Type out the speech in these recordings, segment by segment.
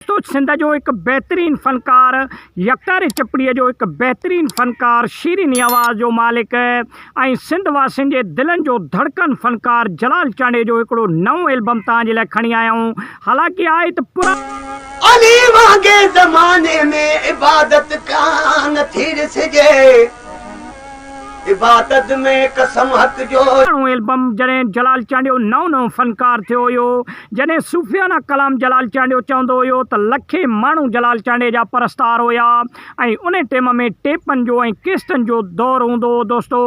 ته سنڌ جو هڪ بهترين فنڪار، يڪتاري چپڙي جو هڪ بهترين فنڪار، شيرين آواز جو مالڪ ۽ سنڌ واسين جي دلن جو ڌڙڪن فنڪار جلال چانڊيي جو هڪڙو نئون البم توهان جي لاء کڻي آيا آهيون حالانڪه آهي ته پراڻو. علي وانگي زماني ۾ عبادت ڪانه ٿي ڏسجي عبادت ۾ قسم حق جو. پراڻو البم جڏهن جلال چانڊيو نئون نئون فنڪار ٿيو هيو. جڏهن صوفيانه ڪلام جلال چانڊيو چوندو هيو ته لکين ماڻهو جلال چانڊيي جا پرستار هيا ۽ ان ٽيم ۾ ٽيپن جو ۽ ڪيسٽن جو دور هوندو هو دوستو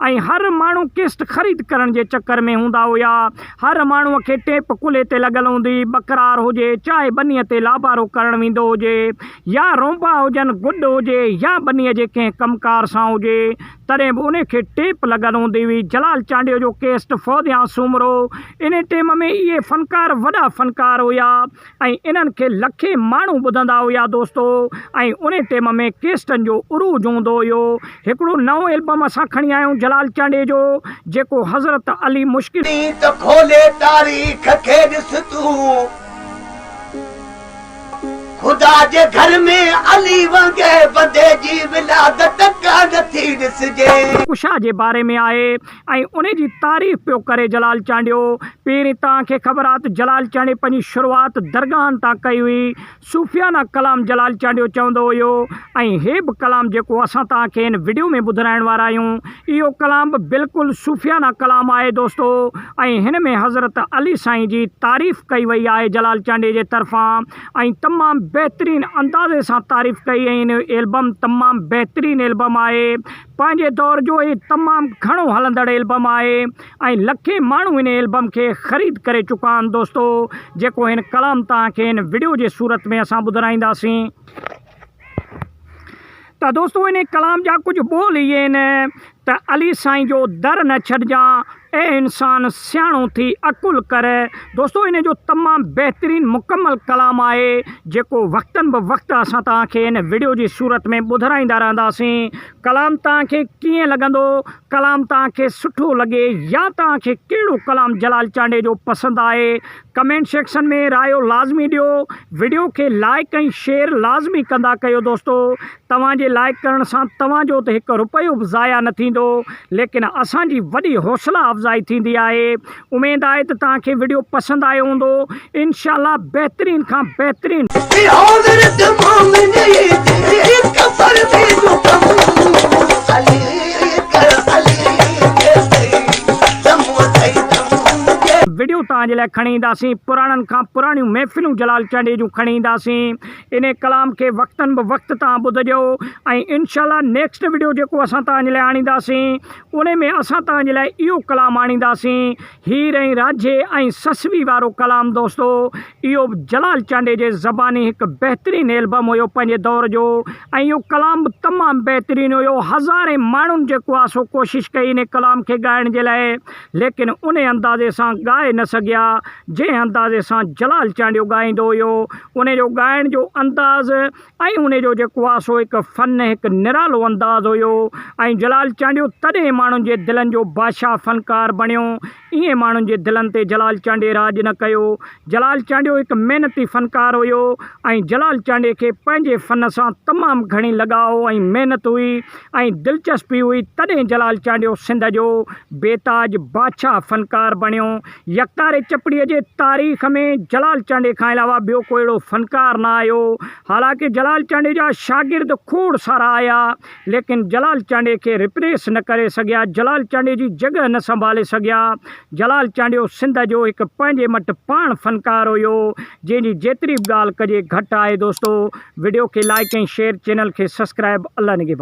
۽ هر ماڻهو ڪيسٽ خريد ڪرڻ جي چڪر ۾ هوندا هيا هر ماڻهو کي ٽيپ ڪلهي تي لڳل هوندي ٻڪرار هجي چاهي ٻني تي لابارو ڪرڻ ويندو هجي يا رونبا هجن گڏ هجي يا ٻني جي ڪنهن ڪم ڪار سان هجي تڏهن به انهي کي ٽيپ لڳل هوندي هئي. جلال چانڊيو جو ڪيسٽ فوزيان سومرو انهي ٽيم ۾ اهي فنڪار وڏا فنڪار هيا ۽ انهن کي لکين ماڻهو ٻڌندا هيا دوستو ۽ انهي ٽيم ۾ ڪيسٽن جو عروج هوندو هيو هڪڙو نئون البم اسان کڻي آيا آهيون جلال چانڊيي جو جيڪو حضرت علي مشڪل ائين ته کولي تاريخ کي ڏس تون. خدا جي گهر ۾ علي وانگي بندي جي ولادت ڪا نه ٿي ڏسجي. ڪشا جي باري ۾ آهي ۽ ان جي تعريف پيو ڪري جلال چانڊيو. پهرين توهان کي خبر آهي ته جلال چانڊي پنهنجي شروعات درگاهن تان ڪئي هئي. صوفيانه ڪلام جلال چانڊيو چوندو هيو ۽ هي به ڪلام جيڪو اسان توهان کي هن وڊيو ۾ ٻڌرائڻ وارا آهيون. اهو ڪلام به بلڪل صوفيانه ڪلام آهي دوستو ۽ هن ۾ حضرت علي سائين جي تعريف ڪئي وئي آهي جلال چانڊيي جي طرفان ۽ تمام بهترين اندازي سان تعريف ڪئي ۽ هن جو البم تمام بهترين البم آهي پنهنجي دور جو هي تمام گهڻو هلندڙ البم آهي ۽ لکين ماڻهو هن البم کي خريد ڪري چڪا آهن دوستو جيڪو هن ڪلام توهان کي هن وڊيو جي صورت ۾ اسان ٻڌرائينداسين. ته دوستو ان ڪلام جا ڪجهه ٻول هي آهن ته علي سائين جو در نه ڇڏجان اي انسان سياڻو ٿي عقل ڪر دوستو ان جو تمام بهترين مڪمل ڪلام آهي جيڪو وقتن به وقت اسان تان کي ان ويڊيو جي صورت ۾ ٻڌرائيندا رهنداسين ڪلام تان کي ڪيئن لڳندو ڪلام توهان کي سٺو لڳي يا توهان کي ڪهڙو ڪلام جلال چانڊئي جو پسند آهي ڪمينٽ سيڪشن ۾ رايو لازمي ڏيو وڊيو کي لائيڪ ۽ شيئر لازمي ڪندا ڪيو دوستو توهان جي لائيڪ ڪرڻ سان توهان جو ته هڪ رپيو به ضايع نه ٿيندو ليڪن اسان جي وڏي حوصلا افزائي ٿيندي آهي اميد آهي ته توهان کي وڊيو پسند آيو هوندو انشاء الله بهترين کان بهترين. وڊيو توهان جي لاء کڻي اينداسين پراڻن کان پراڻيون محفلون جلال چانڊيي جون کڻي اينداسين انهي ڪلام کي وقتن به وقت توهان ٻڌجو ۽ انشاء الله نيڪسٽ وڊيو جيڪو اسان توهان جي لاء آڻينداسين ان ۾ اسان توهان جي لاء اهو ڪلام آڻينداسين، هير ۽ رانجهي ۽ سسوي وارو ڪلام دوستو اهو به جلال چانڊيي جي زباني هڪ بهترين البم هيو پنهنجي دور جو ۽ اهو ڪلام به تمام بهترين هيو هزارين ماڻهن جيڪو آ سو ڪوشش ڪئي ان ڪلام کي ڳائڻ جي لاء ليڪن ان اندازي سان ڳائي نه سگهيا جنهن اندازي سان جلال چانڊيو ڳائيندو هيو ان جو ڳائڻ جو انداز ۽ ان جو جيڪو آ سو هڪ فن هڪ نرالو انداز هيو ۽ جلال چانڊيو تڏهن ماڻهن جي دلن جو بادشاهه فنڪار بڻيو ائين ماڻهن جي دلن تي جلال چانڊي راڄ نه ڪيو جلال چانڊيو هڪ محنتي فنڪار هيو ۽ جلال چانڊي کي پنهنجي فن سان تمام گهڻي لڳاء ۽ محنت هئي ۽ دلچسپي هئي تڏهن جلال چانڊيو سنڌ جو بيتاج بادشاهه فنڪار بڻيو يڪتاري چپڙي جي تاريخ ۾ جلال چانڊئي کان علاوه ٻيو ڪو اهڙو فنڪار نه آيو. حالانڪ جلال چانڊئي جا شاگرد کوڙ سارا آيا، ليڪن جلال چانڊئي کي ريپليس نه ڪري سگهيا، جلال چانڊئي جي جڳهه نه سنڀالي سگهيا. جلال چانڊيو سنڌ جو هڪ پنهنجي مٽ پاڻ فنڪار هيو، جنهن جي جيتري به ڳالهه ڪجي گهٽ آهي دوستو. وڊيو کي لائيڪ ۽ شيئر چينل کي سسڪرائب الله نگهبان.